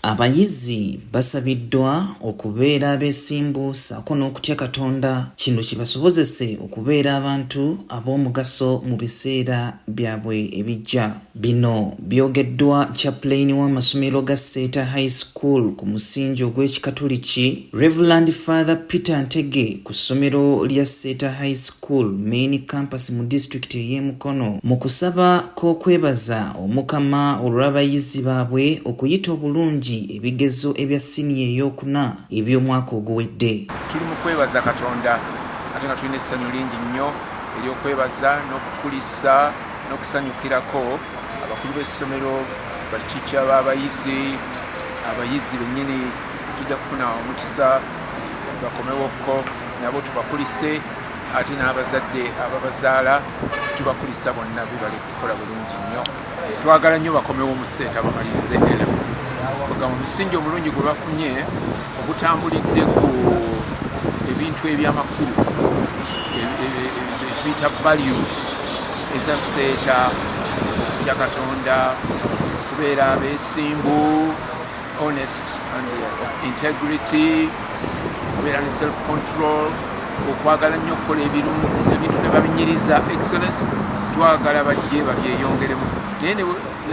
Abayizi basabiddwa okubeera abeesimbu ssaako n'okutya Katonda kino kibasobozese okubeera abantu ab'omugaso mu biseera byabwe ebijja. Bino byogeddwa Chaplain w'amasomero ga Seeta High School ku musingi ogw'ekikatuliki Reverend Father Peter Ntege ku ssomero lya Seeta High School School Main Campus mu disitulikiti ey'e Mukono mu kusaba k'okwebaza Omukama olw'abayizi baabwe okuyita obulungi ebigezo ebya siniya ey'okuna eby'omwaka oguwedde. Tuli mu kwebaza Katonda ate nga tulina essanyu lingi nnyo ery'okwebaza n'okukulisa n'okusanyukirako abakulu b'essomero, batica b'abayizi, abayizi bennyini tujja kufuna omukisa. bakomewokko nabo tubakulise ate n'abazadde ababazaala tubakulisa bonna bibale kukola bulungi nnyo twagala nnyo bakomewo mu seeta bamalirize elevu nga mu musingi omulungi gwe bafunye ogutambulidde ku ebintu ebyamakulu ekiyita values eza seeta okutya katonda okubeera abeesimbu honest and uh, integrity obeera ne self control okwagala nnyo okukola ebirungu ebintu ne babinyiriza excellence twagala bajje babyeyongeremu naye ne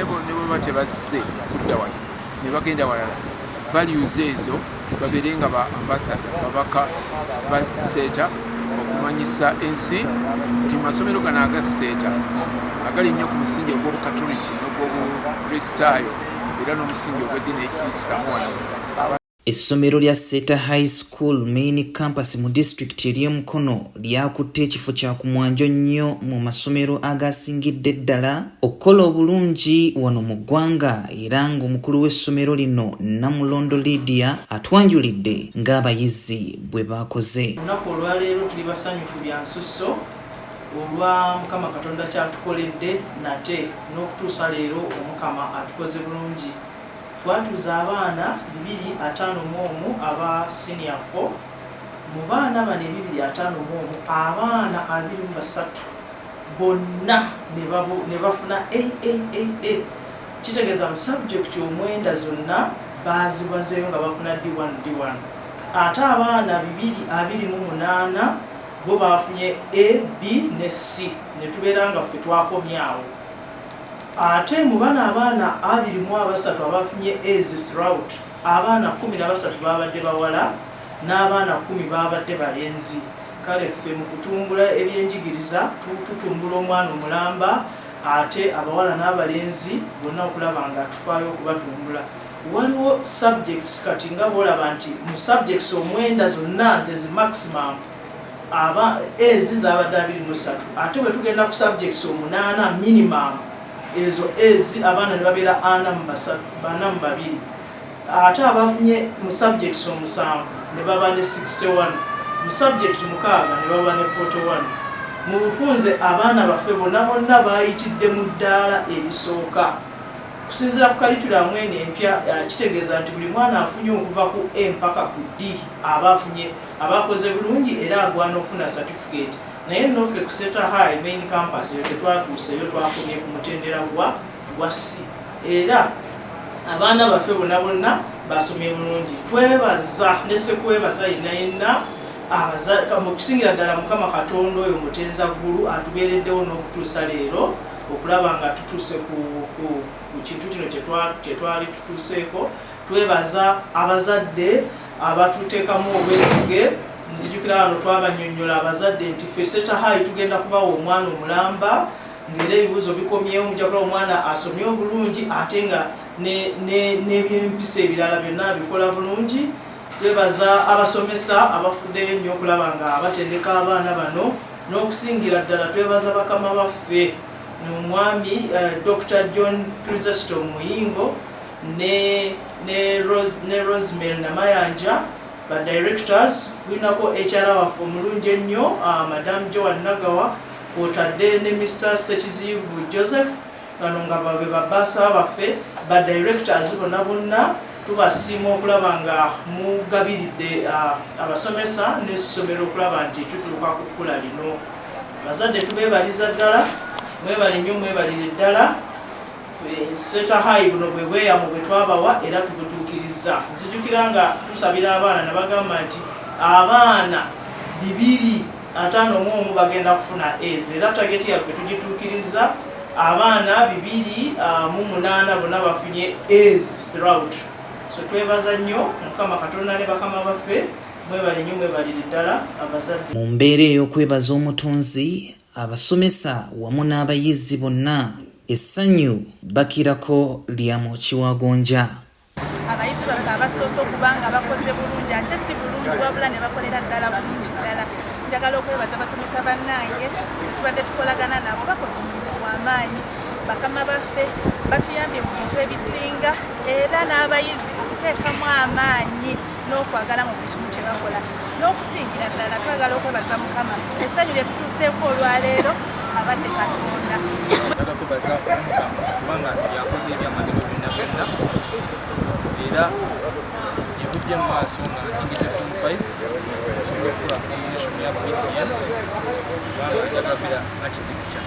bweba tebazze kudda wano ne bagenda walala values ezo babeere nga ba ambasada babaka baseeta okumanyisa ensi nti masomero gano agaseeta agali nnyo ku musingi ogw'obukatoliki n'ogw'obukristaayo era n'omusingi ogw'eddiini ey'ekiyisiramu wano Essomero lya Seta High School Main Campus mu disitulikiti ery'e Mukono lyakutte ekifo kya ku mwanjo nnyo mu masomero agaasingidde ddala okukola obulungi wano mu ggwanga era ng'omukulu w'essomero lino Namulondo Lydia atwanjulidde ng'abayizi bwe baakoze. Olunaku olwaleero tuli basanyufu bya nsusso olwa mukama katonda kyatukoledde nate n'okutuusa leero omukama atukoze bulungi twatuuza abaana bibiri ataano mu omu aba senior fo mu baana bano ebibiri ataano mu omu abaana abiri mu basatu bonna ne bafuna aaa kitegeeza mu sabjekiti omwenda zonna baazibazeeyo nga bakuna d1 d1 ate abaana bibiri abiri mu munaana bo baafunye a b ne c ne tubeera nga ffe twakomye awo ate mu bana abaana abiri mu abasatu abafunye as throughout abaana kumi na basatu baabadde bawala n'abaana kumi baabadde balenzi kale ffe mu kutumbula ebyenjigiriza tutumbula omwana omulamba ate abawala n'abalenzi bonna okulaba nga tufaayo okubatumbula Waliwo subjects kati nga bwolaba nti mu subjects omwenda zonna ze zi maximum aba ezi zabadde abiri mu ssatu ate bwe tugenda ku subjects omunaana minimum ezo ezi abaana ne babeera ana mu basatu bana mu babiri ate abafunye mu subjects omusanvu ne baba ne 61 mu subject mukaaga ne baba ne 41 mu bufunze abaana baffe bonna bonna baayitidde mu ddaala erisooka Okusinziira ku kalitulamu eno empya eh, kitegeeza nti buli mwana afunye okuva ku A mpaka ku D aba afunye aba akoze bulungi era agwana okufuna satifikeeti naye nno ffe ku Seta High main campus eyo tetwatuuseeyo twakomye ku mutendera gwa gwa C era abaana baffe bona bonna basomye bulungi twebaza ne sekwebaza yenna yenna mu kusingira ddala mukama katonda oyo mutenza ggulu atubeereddewo n'okutuusa leero okulaba nga tutuuse ku kintu kino kyetwali tutuuseeko twebaza abazadde abatuteekamu obwesige nzijukira wano twabanyonyola abazadde nti fe setahayi tugenda kubawa omwana omulamba ngaera ebibuuzo bikomyewo mujakula omwana asomye obulungi ate nga n'ebyempisa ebirala byonna abikola bulungi Twebaza abasomesa abafuddeyo ennyo okulaba nga batendeka abaana bano n'okusingira ddala twebaza bakama baffe omwami eh, Dr. John Chrysostom Muyingo ne, ne, Rose, ne Rosemary Namayanja ba directors kulinako HR waffe omulungi ennyo uh, Madam Joan Nagawa kwotadde ne Mr. Sekiziyivu Joseph bano nga babe babaasa baffe ba directors bona bonna tubasiima okulaba nga mugabiridde abasomesa n'essomero okulaba nti tutuuka ku kkula lino bazadde tubebaliza ddala mwebale nnyo mwebalire ddala e, seta hayi buno bwe bweyamu bwe twabawa era tubutuukirizza nzijukira nga tusabira abaana nabagamba nti abaana bibiri ataano mu omu bagenda kufuna ez era tageti yaffe tugituukiriza abaana bibiri ah, mu munaana bonna bafunye ez throut so twebaza nnyo mukama katonda ne bakama baffe mwebale nnyo mwebalire ddala abazadde mu mbeera ey'okwebaza omutonzi abasomesa wamu n'abayizi bonna essanyu bakirako lya mu kiwagonja abayizi baffe abasoose okuba nga bakoze bulungi ate si bulungi wabula ne bakolera ddala bulungi ddala njagala okwebaza basomesa bannange tubadde tukolagana nabo bakoze omulimu gw'amaanyi bakama baffe batuyambye mu bintu ebisinga era n'abayizi okuteekamu amaanyi n'okwagala mu buli kimu kye bakola n'okusingira ddala twagala okwebaza mukama essanyu lye tutuuseeko olwaleero abadde katonda aga kwebaza omukama kubanga yakoze ebyamagero byonna byonna era yebujja mu maaso nga ngigite fom 5 osobola okukola combination ya btn kubanga njagabira architecture